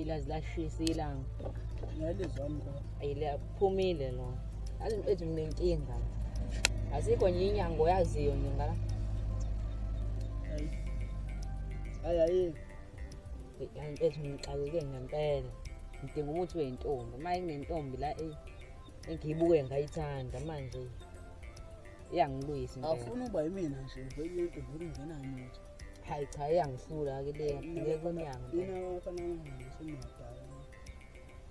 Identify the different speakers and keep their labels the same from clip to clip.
Speaker 1: ilazi lashisa ilanga
Speaker 2: ayilaphumile
Speaker 1: lo azi into ethi nginenkinga azikho nje inyango yaziyo nje ngala
Speaker 2: hayi hayi
Speaker 1: into ethi ngixakeke ngempela ngidinga umuthi weyintombi uma ingentombi la eyi ngiyibuke ngayithanda manje iyangilwisa impela awufuni uba yimina nje
Speaker 2: vele into vele ungena muntu hayi cha
Speaker 1: iyangihlula ke le ngeke kunyango yena wafana nami
Speaker 2: seniyadala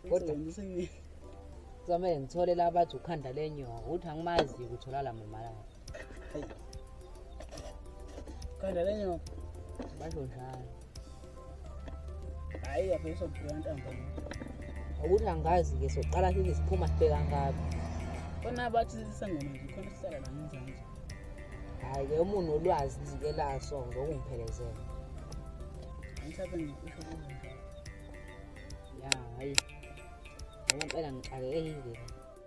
Speaker 1: kodwa ngisini zame ngithole la bathi ukhanda lenyoka uthi angimazi ukuthola la mama la
Speaker 2: khanda lenyoka basho
Speaker 1: njalo
Speaker 2: hayi yabe sokuphila ntambo ukuthi
Speaker 1: angazi-ke soqala sithi siphuma sibheka ngabi khona abathi
Speaker 2: sisangoma nje khona sihlala la ngenzanje hhayi-ke
Speaker 1: umuntu olwazi lizike laso zokungiphelezela
Speaker 2: angisabe ngikusho kuzo
Speaker 1: ya hhayi ngoba impela ngixakekekile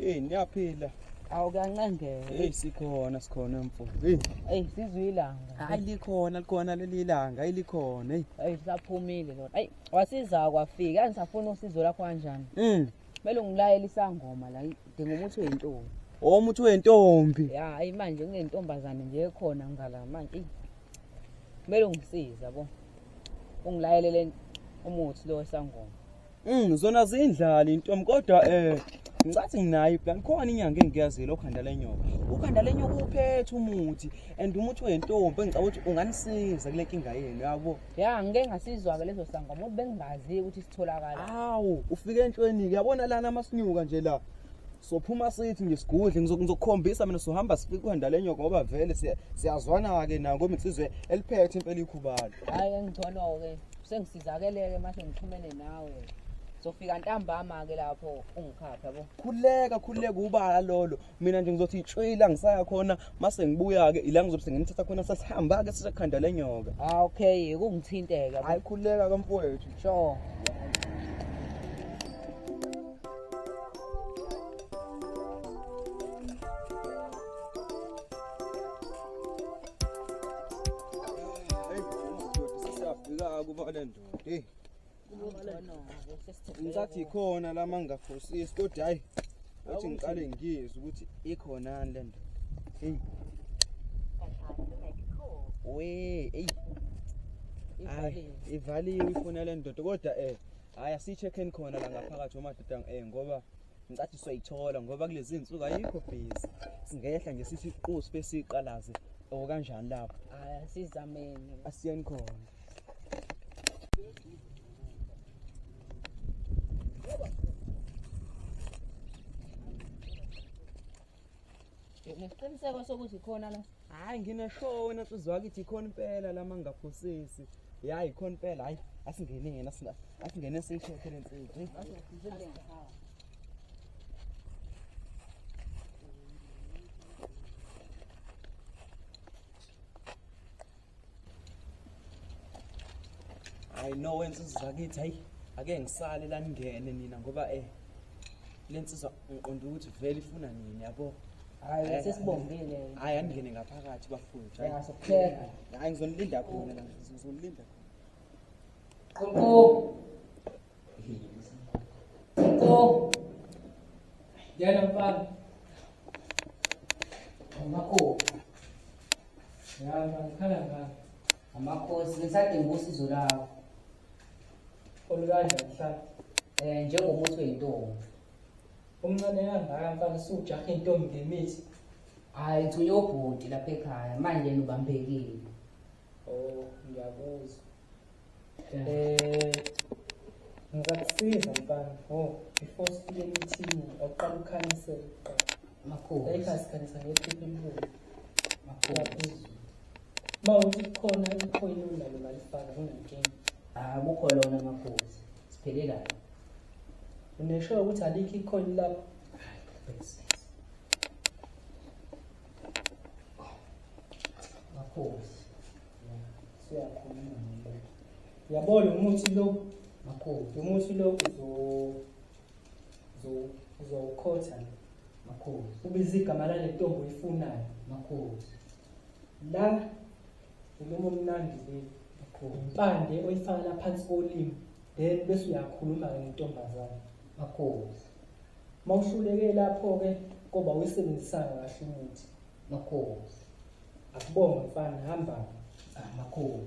Speaker 2: Hey niyaphila. Awu
Speaker 1: kancengele. Hey sikhona
Speaker 2: sikhona mfo. Hey. Hey sizwe
Speaker 1: ilanga. Hayi likhona
Speaker 2: likhona leli langa ilikhona. Hey. Hey saphumile
Speaker 1: lona. Hey wasiza kwafika angisafuna usizo lakho kanjani? Mm. Kumele ungilayele isangoma la dinga umuthi wentombi. Oh umuthi
Speaker 2: wentombi. Ya hayi manje
Speaker 1: kunentombazane nje ekhona ngala manje. Kumele ungisiza bo. Ungilayelele umuthi lo wesangoma. Mm zona zindlali
Speaker 2: intom kodwa eh ngicathi nginayo iplan khona inyanga engiyazile okhanda lenyoka ukhanda lenyoka uphethe umuthi and umuthi wentombi engicabanga ukuthi unganisiza kule nkinga yenu yabo ya ngike ngasizwa-ke
Speaker 1: lezo sangoma ukuthi bengingazi ukuthi sitholakala awu ufike
Speaker 2: entshweni-ke yabona lana amasinyuka nje la sophuma sithi nje sigudle ngizokukhombisa mina sohamba sifike ukhanda lenyoka ngoba vele siyazwana-ke nako insizwe eliphethe impela ikhubalo hhayi engigcono-ke
Speaker 1: Sengisizakeleke mase ngixhumene nawe. Zofika ntambama ke lapho ungikhapha yabo. Khuleka khuleka
Speaker 2: ubala lolo. Mina nje ngizothi itshwila ngisaya khona mase ngibuya ke ila ngizobe sengimthatha khona sasihamba ke sisakhanda lenyoka. Ah okay
Speaker 1: kungithinteka. Hayi khuleka kamfowethu.
Speaker 2: Sure. ngicathi ikhona la mangafosisi kodwa hhayi othi ngiqale ngiyizwe ukuthi ikhonani le ndoda eyi we eyi hayi ivaliwe ifuna le ndoda kodwa um hhayi asiyi-check-en khona la ngaphakathi omadoda um ngoba ngicathi soyithola ngoba kulezi nsuku ayikho busy singehla nje sithi iqosi bese iqalaze or kanjani lapho hayi asizameni
Speaker 1: asiyeni khona nesiqiniseko sokuthi khona la hayi ngineshow
Speaker 2: wena nsuzi wakithi ikhona impela lama ngingaphosisi ya ikhona impela hayi asingene yena asingene siyikhokhe le nsizi I know wenza izakithi hayi ake ngisale la ningene nina ngoba eh lensizwa ngiqonda ukuthi vele ifuna nini yabo hayi eh,
Speaker 1: sesibongile hayi angene ngaphakathi
Speaker 2: bafundi hayi sokupheka
Speaker 1: hayi ngizonilinda
Speaker 2: khona la ngizonilinda qonqo
Speaker 1: qonqo yana mfana ngakho Yaba ngikhala ngani? Amakhosi ngisadinga usizo lawo. Olukanje
Speaker 3: mhla eh njengomuthi
Speaker 1: wentombi.
Speaker 3: Umncane kangaka mfana sujaha intombi ngemithi. Hayi
Speaker 1: ngithunywe ubhuti lapha ekhaya manje nubambekile.
Speaker 3: Oh ngiyakuzwa. Eh ngizakusiza mfana. Oh before sifike emithini awuqala ukhanisele kuqala. Makhosi.
Speaker 1: Ayikhasikhalisa ngephupho
Speaker 3: elibuya. Makhosi.
Speaker 1: Uma
Speaker 3: uthi khona ikhona unalo balifaka nginankinga. Ah kukho lona
Speaker 1: makhosi. Siphele
Speaker 3: kahle. Unesho ukuthi alikho ikhona
Speaker 1: lapho.
Speaker 3: Hayi, bese. Makhosi. Siyakhuluma nje. Yabona umuthi lo. Makhosi. Umuthi lo uzo uzowukhotha makhulu ubiza igama lale ntombi uyifunayo makhulu la ulomo omnandi le makhulu impande oyifaka la phansi kolimi then bese uyakhuluma-ke ngentombazane makhulu uma uhluleke lapho-ke koba uyisebenzisanga kahle umuthi makhulu akubonga mfana hamba ah, makhulu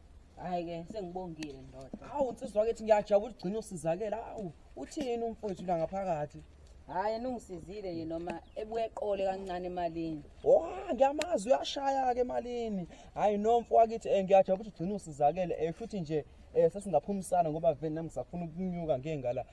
Speaker 1: hayi ke sengibongile ndoda awu nsizwa kethi
Speaker 2: ngiyajabula ugcina usizakela awu uthini umfowethu la ngaphakathi hayi
Speaker 1: nungisizile nje noma ebuye eqole kancane emalini wa ngiyamazi
Speaker 2: uyashaya-ke emalini hhayi nomfo wakithi um ngiyajabula ukuthi ugcina usizakele um eh, futhi nje um eh, sesingaphumisana ngoba vele nami ngisafuna ukunyuka ngengala um